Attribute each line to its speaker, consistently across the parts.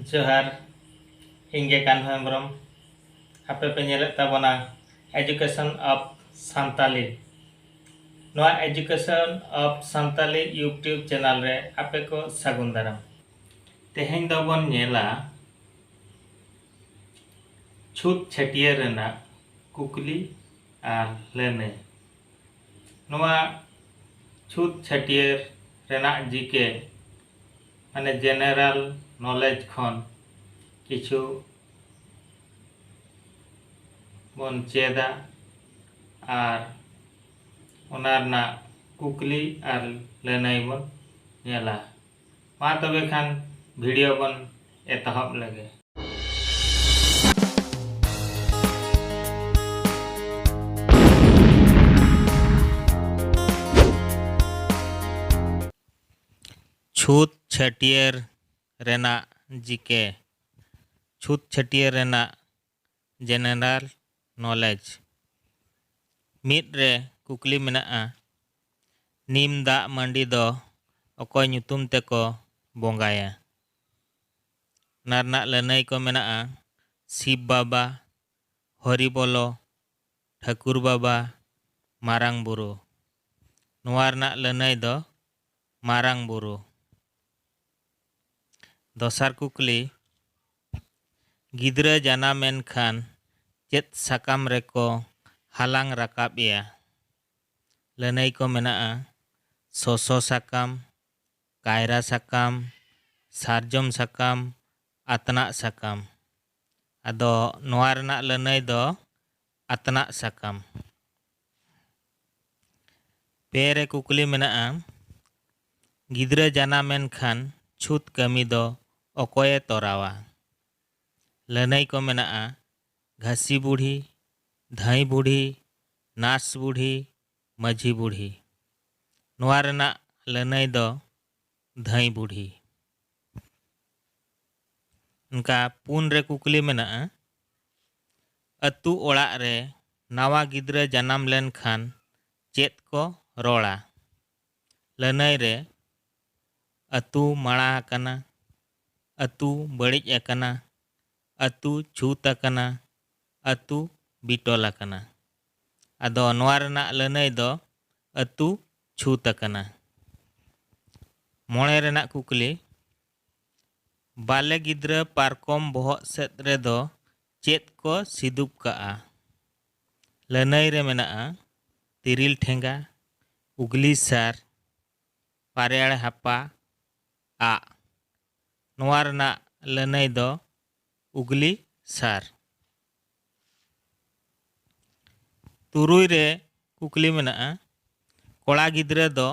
Speaker 1: ᱡᱚᱦᱟᱨ ᱤᱧ ᱜᱮ ᱠᱟᱱᱦᱩ ᱦᱮᱢᱵᱨᱚᱢ ᱟᱯᱮ ᱯᱮ ᱧᱮᱞᱮᱫ ᱛᱟᱵᱚᱱᱟ ᱮᱡᱩᱠᱮᱥᱚᱱ ᱚᱯᱷ ᱥᱟᱱᱛᱟᱞᱤ ᱱᱚᱣᱟ education of Santali YouTube channel ᱨᱮ ᱟᱯᱮ ᱠᱚ ᱥᱟᱹᱜᱩᱱ ᱫᱟᱨᱟᱢ ᱛᱮᱦᱮᱧ ᱫᱚᱵᱚᱱ ᱧᱮᱞᱟ ᱪᱷᱩᱛ ᱪᱷᱟᱹᱴᱭᱟᱹᱨ ᱨᱮᱱᱟᱜ ᱠᱩᱠᱞᱤ ᱟᱨ ᱞᱟᱹᱱᱟᱹᱭ ᱱᱚᱣᱟ ᱪᱷᱩᱛ ᱪᱷᱟᱹᱴᱭᱟᱹᱨ ᱨᱮᱱᱟᱜ ᱡᱤᱠᱮ ᱢᱟᱱᱮ ᱡᱮᱱᱮᱨᱟᱞ ᱱᱚᱞᱮᱡᱽ ᱠᱷᱚᱱ ᱠᱤᱪᱷᱩ ᱵᱚᱱ ᱪᱮᱫᱟ ᱟᱨ ᱚᱱᱟ ᱨᱮᱱᱟᱜ ᱠᱩᱠᱞᱤ ᱟᱨ ᱞᱟᱹᱱᱟᱹᱭ ᱵᱚᱱ ᱧᱮᱞᱟ ᱢᱟ ᱛᱚᱵᱮ ᱠᱷᱟᱱ ᱵᱷᱤᱰᱤᱭᱳ ᱵᱚᱱ ᱮᱛᱚᱦᱚᱵ ᱞᱮᱜᱮ ᱪᱷᱩᱛ ᱪᱷᱟᱹᱴᱭᱟᱹᱨ ᱨᱮᱱᱟᱜ ᱡᱤᱠᱮ ᱪᱷᱩᱛ ᱪᱷᱟᱹᱴᱭᱟᱹᱨ ᱨᱮᱱᱟᱜ ᱡᱮᱱᱮᱨᱟᱞ ᱱᱚᱞᱮᱡᱽ ᱢᱤᱫ ᱨᱮ ᱠᱩᱠᱞᱤ ᱢᱮᱱᱟᱜᱼᱟ ᱱᱤᱢ ᱫᱟᱜ ᱢᱟᱹᱰᱤ ᱫᱚ ᱚᱠᱚᱭ ᱧᱩᱛᱩᱢ ᱛᱮᱠᱚ ᱵᱚᱸᱜᱟᱭᱟ ᱚᱱᱟ ᱨᱮᱱᱟᱜ ᱞᱟᱹᱱᱟᱹᱭ ᱠᱚ ᱢᱮᱱᱟᱜᱼᱟ ᱥᱤᱵᱽ ᱵᱟᱵᱟ ᱦᱚᱨᱤᱵᱚᱞᱚ ᱴᱷᱟᱹᱠᱩᱨ ᱵᱟᱵᱟ ᱢᱟᱨᱟᱝ ᱵᱩᱨᱩ᱾ ᱱᱚᱣᱟ ᱨᱮᱱᱟᱜ ᱞᱟᱹᱱᱟᱹᱭ ᱫᱚ ᱢᱟᱨᱟᱝ ᱵᱩᱨᱩ᱾ ᱫᱚᱥᱟᱨ ᱠᱩᱠᱞᱤ, ᱜᱤᱫᱽᱨᱟᱹ ᱡᱟᱱᱟᱢ ᱮᱱ ᱠᱷᱟᱱ ᱪᱮᱫ ᱥᱟᱠᱟᱢ ᱨᱮ ᱠᱚ ᱦᱟᱞᱟᱝ ᱨᱟᱠᱟᱵ ᱮᱭᱟ? ᱞᱟᱹᱱᱟᱹᱭ ᱠᱚ ᱢᱮᱱᱟᱜᱼᱟ, ᱥᱚᱥᱚ ᱥᱟᱠᱟᱢ, ᱠᱟᱭᱨᱟ ᱥᱟᱠᱟᱢ, ᱥᱟᱨᱡᱚᱢ ᱥᱟᱠᱟᱢ, ᱟᱛᱱᱟᱜ ᱥᱟᱠᱟᱢ᱾ ᱟᱫᱚ ᱱᱚᱣᱟ ᱨᱮᱱᱟᱜ ᱞᱟᱹᱱᱟᱹᱭ ᱫᱚ ᱟᱛᱱᱟᱜ ᱥᱟᱠᱟᱢ᱾ ᱯᱮ ᱨᱮ ᱠᱩᱠᱞᱤ ᱢᱮᱱᱟᱜᱼᱟ, ᱜᱤᱫᱽᱨᱟᱹ ᱡᱟᱱᱟᱢ ᱮᱱ ᱠᱷᱟᱱ ᱪᱷᱩᱛ ᱠᱟᱹᱢᱤ ᱫᱚ ᱚᱠᱚᱭ ᱮ ᱛᱚᱨᱟᱣᱟ? ᱞᱟᱹᱱᱟᱹᱭ ᱠᱚ ᱢᱮᱱᱟᱜᱼᱟ, ᱜᱷᱟᱹᱥᱤ ᱵᱩᱰᱷᱤ, ᱫᱷᱟᱹᱭ ᱵᱩᱰᱷᱤ, ᱱᱟᱨᱥ ᱵᱩᱰᱷᱤ, ᱢᱟᱹᱡᱷᱤ ᱵᱩᱰᱷᱤ᱾ ᱱᱚᱣᱟ ᱨᱮᱱᱟᱜ ᱞᱟᱹᱱᱟᱹᱭ ᱫᱚ ᱫᱷᱟᱹᱭ ᱵᱩᱰᱷᱤ᱾ ᱚᱱᱠᱟ ᱯᱩᱱ ᱨᱮ ᱠᱩᱠᱞᱤ ᱢᱮᱱᱟᱜᱼᱟ, ᱟᱹᱛᱩ ᱚᱲᱟᱜ ᱨᱮ ᱱᱟᱣᱟ ᱜᱤᱫᱽᱨᱟᱹ ᱡᱟᱱᱟᱢ ᱞᱮᱱ ᱠᱷᱟᱱ ᱪᱮᱫ ᱠᱚ ᱨᱚᱲᱟ? ᱞᱟᱹᱱᱟᱹᱭ ᱨᱮ ᱟᱹᱛᱩ ᱢᱟᱲᱟ ᱟᱠᱟᱱᱟ, ᱟᱹᱛᱩ ᱵᱟᱹᱲᱤᱡ ᱟᱠᱟᱱᱟ, ᱟᱹᱛᱩ ᱪᱷᱩᱛ ᱟᱠᱟᱱᱟ, ᱟᱹᱛᱩ ᱵᱤᱴᱚᱞ ᱟᱠᱟᱱᱟ᱾ ᱟᱫᱚ ᱱᱚᱣᱟ ᱨᱮᱱᱟᱜ ᱞᱟᱹᱱᱟᱹᱭ ᱫᱚ ᱟᱹᱛᱩ ᱪᱷᱩᱛ ᱟᱠᱟᱱᱟ᱾ ᱢᱚᱬᱮ ᱨᱮᱱᱟᱜ ᱠᱩᱠᱞᱤ, ᱵᱟᱞᱮ ᱜᱤᱫᱽᱨᱟᱹ ᱯᱟᱨᱠᱚᱢ ᱵᱚᱦᱚᱜ ᱥᱮᱫ ᱨᱮ ᱫᱚ ᱪᱮᱫ ᱠᱚ ᱥᱤᱫᱩᱵ ᱠᱟᱜᱼᱟ? ᱞᱟᱹᱱᱟᱹᱭ ᱨᱮ ᱢᱮᱱᱟᱜᱼᱟ ᱛᱤᱨᱤᱞ ᱴᱷᱮᱸᱜᱟ, ᱩᱜᱽᱞᱤ ᱥᱟᱨ, ᱯᱟᱨᱮᱭᱟᱲᱮ ᱦᱟᱯᱟ, ᱟᱜ᱾ ᱱᱚᱣᱟ ᱨᱮᱱᱟᱜ ᱞᱟᱹᱱᱟᱹᱭ ᱫᱚ ᱩᱜᱽᱞᱤ ᱥᱟᱨ᱾ ᱛᱩᱨᱩᱭ ᱨᱮ ᱠᱩᱠᱞᱤ ᱢᱮᱱᱟᱜᱼᱟ, ᱠᱚᱲᱟ ᱜᱤᱫᱽᱨᱟᱹ ᱫᱚ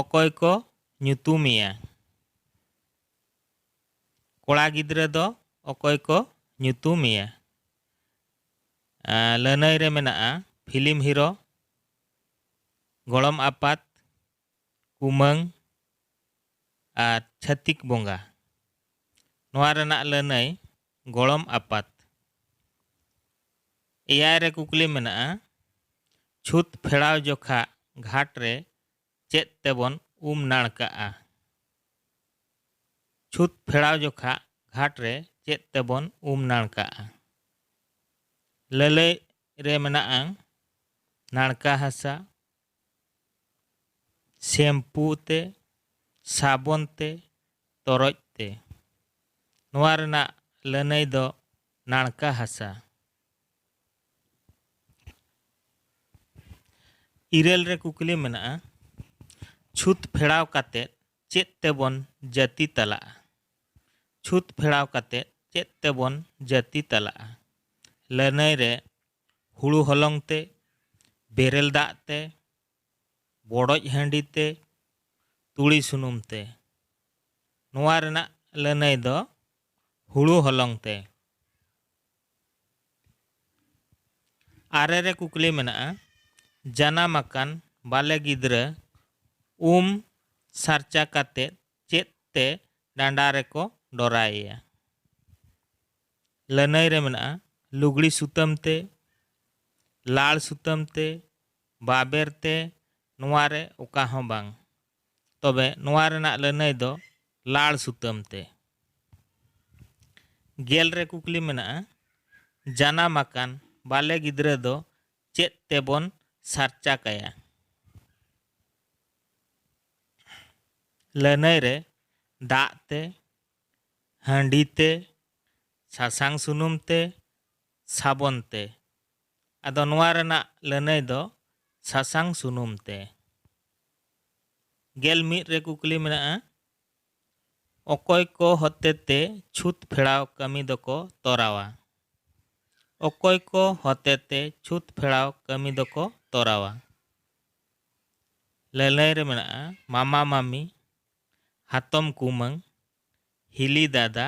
Speaker 1: ᱚᱠᱚᱭ ᱠᱚ ᱧᱩᱛᱩᱢ ᱮᱭᱟ? ᱠᱚᱲᱟ ᱜᱤᱫᱽᱨᱟᱹ ᱫᱚ ᱚᱠᱚᱭ ᱠᱚ ᱧᱩᱛᱩᱢ ᱮᱭᱟ? ᱞᱟᱹᱱᱟᱹᱭ ᱨᱮ ᱢᱮᱱᱟᱜᱼᱟ ᱯᱷᱤᱞᱢ ᱦᱤᱨᱳ, ᱜᱚᱲᱚᱢ ᱟᱯᱟᱛ, ᱠᱩᱢᱟᱹᱝ ᱟᱨ ᱪᱷᱟᱹᱛᱤᱠ ᱵᱚᱸᱜᱟ᱾ ᱱᱚᱣᱟ ᱨᱮᱱᱟᱜ ᱞᱟᱹᱱᱟᱹᱭ ᱜᱚᱲᱚᱢ ᱟᱯᱟᱛ᱾ ᱮᱭᱟᱭ ᱨᱮ ᱠᱩᱠᱞᱤ ᱢᱮᱱᱟᱜᱼᱟ, ᱪᱷᱩᱛ ᱯᱷᱮᱲᱟᱣ ᱡᱚᱠᱷᱟᱜ ᱜᱷᱟᱴ ᱨᱮ ᱪᱮᱫ ᱛᱮᱵᱚᱱ ᱩᱢ ᱱᱟᱲᱠᱟᱜᱼᱟ? ᱪᱷᱩᱛ ᱯᱷᱮᱲᱟᱣ ᱡᱚᱠᱷᱟᱜ ᱜᱷᱟᱴ ᱨᱮ ᱪᱮᱫ ᱛᱮᱵᱚᱱ ᱩᱢ ᱱᱟᱲᱠᱟᱜᱼᱟ? ᱞᱟᱹᱞᱟᱹᱭ ᱨᱮ ᱢᱮᱱᱟᱜᱼᱟ, ᱱᱟᱲᱠᱟ ᱦᱟᱥᱟ, ᱥᱮᱢᱯᱩ ᱛᱮ ᱥᱟᱵᱚᱱ ᱛᱮ ᱛᱚᱨᱚᱡ ᱛᱮ ᱱᱚᱣᱟ ᱨᱮᱱᱟᱜ ᱞᱟᱹᱱᱟᱹᱭ ᱫᱚ ᱱᱟᱲᱠᱟ ᱦᱟᱥᱟ ᱤᱨᱟᱹᱞ ᱨᱮ ᱠᱩᱠᱞᱤ ᱢᱮᱱᱟᱜᱼᱟ ᱪᱷᱩᱛ ᱯᱷᱮᱲᱟᱣ ᱠᱟᱛᱮ ᱪᱮᱫ ᱛᱮᱵᱚᱱ ᱡᱟᱹᱛᱤ ᱛᱟᱞᱟᱜᱼᱟ ᱪᱷᱩᱛ ᱯᱷᱮᱲᱟᱣ ᱠᱟᱛᱮ ᱪᱮᱫ ᱛᱮᱵᱚᱱ ᱡᱟᱹᱛᱤ ᱛᱟᱞᱟᱜᱼᱟ ᱞᱟᱹᱱᱟᱹᱭ ᱨᱮ ᱦᱩᱲᱩ ᱦᱚᱞᱚᱝ ᱛᱮ, ᱵᱮᱨᱮᱞ ᱫᱟᱜ ᱛᱮ, ᱵᱚᱰᱚᱡ ᱦᱟᱺᱰᱤ ᱛᱮ, ᱛᱩᱲᱤ ᱥᱩᱱᱩᱢ ᱛᱮ᱾ ᱱᱚᱣᱟ ᱨᱮᱱᱟᱜ ᱞᱟᱹᱱᱟᱹᱭ ᱫᱚ ᱦᱩᱲᱩ ᱦᱚᱞᱚᱝ ᱛᱮ᱾ ᱟᱨᱮ ᱨᱮ ᱠᱩᱠᱞᱤ ᱢᱮᱱᱟᱜᱼᱟ, ᱡᱟᱱᱟᱢ ᱟᱠᱟᱱ ᱵᱟᱞᱮ ᱜᱤᱫᱽᱨᱟᱹ ᱩᱢ ᱥᱟᱨᱪᱟ ᱠᱟᱛᱮ ᱪᱮᱫ ᱛᱮ ᱰᱟᱸᱰᱟ ᱨᱮᱠᱚ ᱰᱚᱨᱟᱭᱮᱭᱟ? ᱞᱟᱹᱱᱟᱹᱭ ᱨᱮ ᱢᱮᱱᱟᱜᱼᱟ ᱞᱩᱜᱽᱲᱤ ᱥᱩᱛᱟᱹᱢ ᱛᱮ, ᱞᱟᱲ ᱥᱩᱛᱟᱹᱢ ᱛᱮ, ᱵᱟᱵᱮᱨ ᱛᱮ ᱱᱚᱣᱟ ᱨᱮ ᱚᱠᱟ ᱦᱚᱸ ᱵᱟᱝ᱾ ᱛᱚᱵᱮ ᱱᱚᱣᱟ ᱨᱮᱱᱟᱜ ᱞᱟᱹᱱᱟᱹᱭ ᱫᱚ ᱞᱟᱲ ᱥᱩᱛᱟᱹᱢ ᱛᱮ᱾ ᱜᱮᱞ ᱨᱮ ᱠᱩᱠᱞᱤ ᱢᱮᱱᱟᱜᱼᱟ ᱡᱟᱱᱟᱢ ᱟᱠᱟᱱ ᱵᱟᱞᱮ ᱜᱤᱫᱽᱨᱟᱹ ᱫᱚ ᱪᱮᱫ ᱛᱮ ᱵᱚᱱ ᱥᱟᱨᱪᱟ ᱠᱟᱭᱟ? ᱞᱟᱹᱱᱟᱹᱭ ᱨᱮ ᱫᱟᱜ ᱛᱮ, ᱦᱟᱺᱰᱤ ᱛᱮ, ᱥᱟᱥᱟᱝ ᱥᱩᱱᱩᱢ ᱛᱮ, ᱥᱟᱵᱚᱱ ᱛᱮ᱾ ᱟᱫᱚ ᱱᱚᱣᱟ ᱨᱮᱱᱟᱜ ᱞᱟᱹᱱᱟᱹᱭ ᱫᱚ ᱥᱟᱥᱟᱝ ᱥᱩᱱᱩᱢ ᱛᱮ᱾ ᱜᱮᱞ ᱢᱤᱫ ᱨᱮ ᱠᱩᱠᱞᱤ ᱢᱮᱱᱟᱜᱼᱟ, ᱚᱠᱚᱭ ᱠᱚ ᱦᱚᱛᱮᱛᱮ ᱪᱷᱩᱛ ᱯᱷᱮᱲᱟᱣ ᱠᱟᱹᱢᱤ ᱫᱚᱠᱚ ᱛᱚᱨᱟᱣᱟ? ᱚᱠᱚᱭ ᱠᱚ ᱦᱚᱛᱮᱛᱮ ᱪᱷᱩᱛ ᱯᱷᱮᱲᱟᱣ ᱠᱟᱹᱢᱤ ᱫᱚᱠᱚ ᱛᱚᱨᱟᱣᱟ? ᱞᱟᱹᱱᱟᱹᱭ ᱨᱮ ᱢᱮᱱᱟᱜᱼᱟ, ᱢᱟᱢᱟ ᱢᱟᱢᱤ, ᱦᱟᱛᱚᱢ ᱠᱩᱢᱟᱹᱝ, ᱦᱤᱞᱤ ᱫᱟᱫᱟ,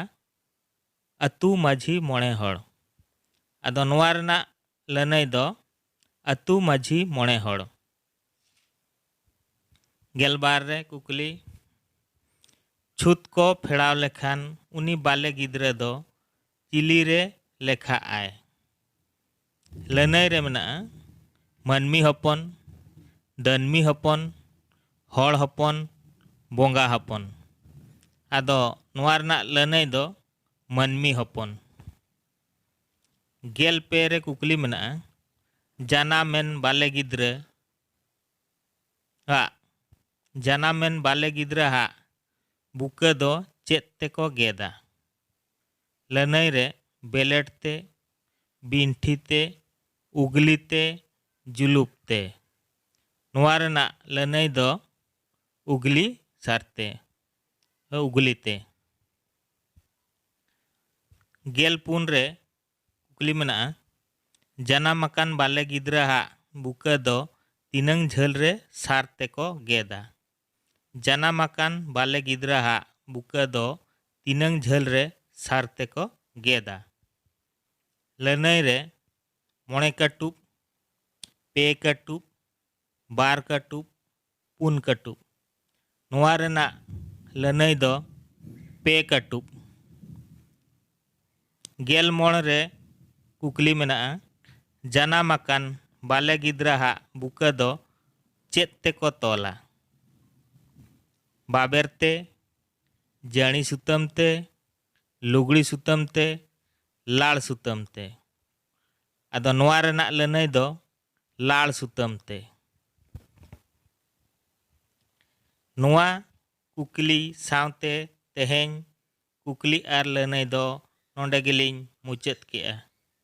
Speaker 1: ᱟᱹᱛᱩ ᱢᱟᱹᱡᱷᱤ ᱢᱚᱬᱮ ᱦᱚᱲ᱾ ᱟᱫᱚ ᱱᱚᱣᱟ ᱨᱮᱱᱟᱜ ᱞᱟᱹᱱᱟᱹᱭ ᱫᱚ ᱟᱹᱛᱩ ᱢᱟᱹᱡᱷᱤ ᱢᱚᱬᱮ ᱦᱚᱲ᱾ ᱜᱮᱞ ᱵᱟᱨ ᱨᱮ ᱠᱩᱠᱞᱤ ᱪᱷᱩᱛ ᱠᱚ ᱯᱷᱮᱲᱟᱣ ᱞᱮᱠᱷᱟᱱ ᱩᱱᱤ ᱵᱟᱞᱮ ᱜᱤᱫᱽᱨᱟᱹ ᱫᱚ ᱪᱤᱞᱤ ᱨᱮ ᱞᱮᱠᱷᱟᱜ ᱟᱭ? ᱞᱟᱹᱱᱟᱹᱭ ᱨᱮ ᱢᱮᱱᱟᱜᱼᱟ ᱢᱟᱹᱱᱢᱤ ᱦᱚᱯᱚᱱ, ᱫᱟᱹᱱᱢᱤ ᱦᱚᱯᱚᱱ, ᱦᱚᱲ ᱦᱚᱯᱚᱱ, ᱵᱚᱸᱜᱟ ᱦᱚᱯᱚᱱ᱾ ᱟᱫᱚ ᱱᱚᱣᱟ ᱨᱮᱱᱟᱜ ᱞᱟᱹᱱᱟᱹᱭ ᱫᱚ ᱢᱟᱹᱱᱢᱤ ᱦᱚᱯᱚᱱ᱾ ᱜᱮᱞ ᱯᱮ ᱨᱮ ᱠᱩᱠᱞᱤ ᱢᱮᱱᱟᱜᱼᱟ ᱡᱟᱱᱟᱢᱮᱱ ᱵᱟᱞᱮ ᱜᱤᱫᱽᱨᱟᱹ ᱟᱜ ᱡᱟᱱᱟᱢᱮᱱ ᱵᱟᱞᱮ ᱜᱤᱫᱽᱨᱟᱹ ᱦᱟᱜ ᱵᱩᱠᱟᱹ ᱫᱚ ᱪᱮᱫ ᱛᱮᱠᱚ ᱜᱮᱫᱟ? ᱞᱟᱹᱱᱟᱹᱭ ᱨᱮ ᱵᱮᱞᱮᱴ ᱛᱮ, ᱵᱤᱱᱴᱷᱤ ᱛᱮ, ᱩᱜᱽᱞᱤ ᱛᱮ, ᱡᱩᱞᱩᱯ ᱛᱮ᱾ ᱱᱚᱣᱟ ᱨᱮᱱᱟᱜ ᱞᱟᱹᱱᱟᱹᱭ ᱫᱚ ᱩᱜᱽᱞᱤ ᱥᱟᱨ ᱛᱮ, ᱩᱜᱽᱞᱤ ᱛᱮ᱾ ᱜᱮᱞ ᱯᱩᱱ ᱨᱮ ᱠᱩᱠᱞᱤ ᱢᱮᱱᱟᱜᱼᱟ, ᱡᱟᱱᱟᱢ ᱟᱠᱟᱱ ᱵᱟᱞᱮ ᱜᱤᱫᱽᱨᱟᱹ ᱦᱟᱜ ᱵᱩᱠᱟᱹ ᱫᱚ ᱛᱤᱱᱟᱹᱝ ᱡᱷᱟᱹᱞ ᱨᱮ ᱥᱟᱨ ᱛᱮ ᱠᱚ ᱜᱮᱫᱟ? ᱡᱟᱱᱟᱢ ᱟᱠᱟᱱ ᱵᱟᱞᱮ ᱜᱤᱫᱽᱨᱟ ᱦᱟᱜ ᱵᱩᱠᱟ ᱫᱚ ᱛᱤᱱᱟᱹᱝ ᱡᱷᱟᱹᱞ ᱨᱮ ᱥᱟᱨ ᱛᱮ ᱠᱚ ᱜᱮᱫᱟ? ᱞᱟᱹᱱᱟᱹᱭ ᱨᱮ ᱢᱚᱬᱮ ᱠᱟᱹᱴᱩᱵ, ᱯᱮ ᱠᱟᱹᱴᱩᱵ, ᱵᱟᱨ ᱠᱟᱹᱴᱩᱵ, ᱯᱩᱱ ᱠᱟᱹᱴᱩᱵ᱾ ᱱᱚᱣᱟ ᱨᱮᱱᱟᱜ ᱞᱟᱹᱱᱟᱹᱭ ᱫᱚ ᱯᱮ ᱠᱟᱹᱴᱩᱵ᱾ ᱜᱮᱞ ᱢᱚᱬ ᱨᱮ ᱠᱩᱠᱞᱤ ᱢᱮᱱᱟᱜᱼᱟ, ᱡᱟᱱᱟᱢ ᱟᱠᱟᱱ ᱵᱟᱞᱮ ᱜᱤᱫᱽᱨᱟ ᱦᱟᱜ ᱵᱩᱠᱟᱹ ᱫᱚ ᱪᱮᱫ ᱛᱮ ᱠᱚ ᱛᱚᱞᱟ? ᱵᱟᱵᱮᱨ ᱛᱮ, ᱡᱟᱹᱬᱤ ᱥᱩᱛᱟᱹᱢ ᱛᱮ, ᱞᱩᱜᱽᱲᱤ ᱥᱩᱛᱟᱹᱢ ᱛᱮ, ᱞᱟᱲ ᱥᱩᱛᱟᱹᱢ ᱛᱮ᱾ ᱟᱫᱚ ᱱᱚᱣᱟ ᱨᱮᱱᱟᱜ ᱞᱟᱹᱱᱟᱹᱭ ᱫᱚ ᱞᱟᱲ ᱥᱩᱛᱟᱹᱢ ᱛᱮ᱾ ᱱᱚᱣᱟ ᱠᱩᱠᱞᱤ ᱥᱟᱶᱛᱮ ᱛᱮᱦᱮᱧ ᱠᱩᱠᱞᱤ ᱟᱨ ᱞᱟᱹᱱᱟᱹᱭ ᱫᱚ ᱱᱚᱸᱰᱮ ᱜᱮᱞᱤᱧ ᱢᱩᱪᱟᱹᱫ ᱠᱮᱫᱼᱟ᱾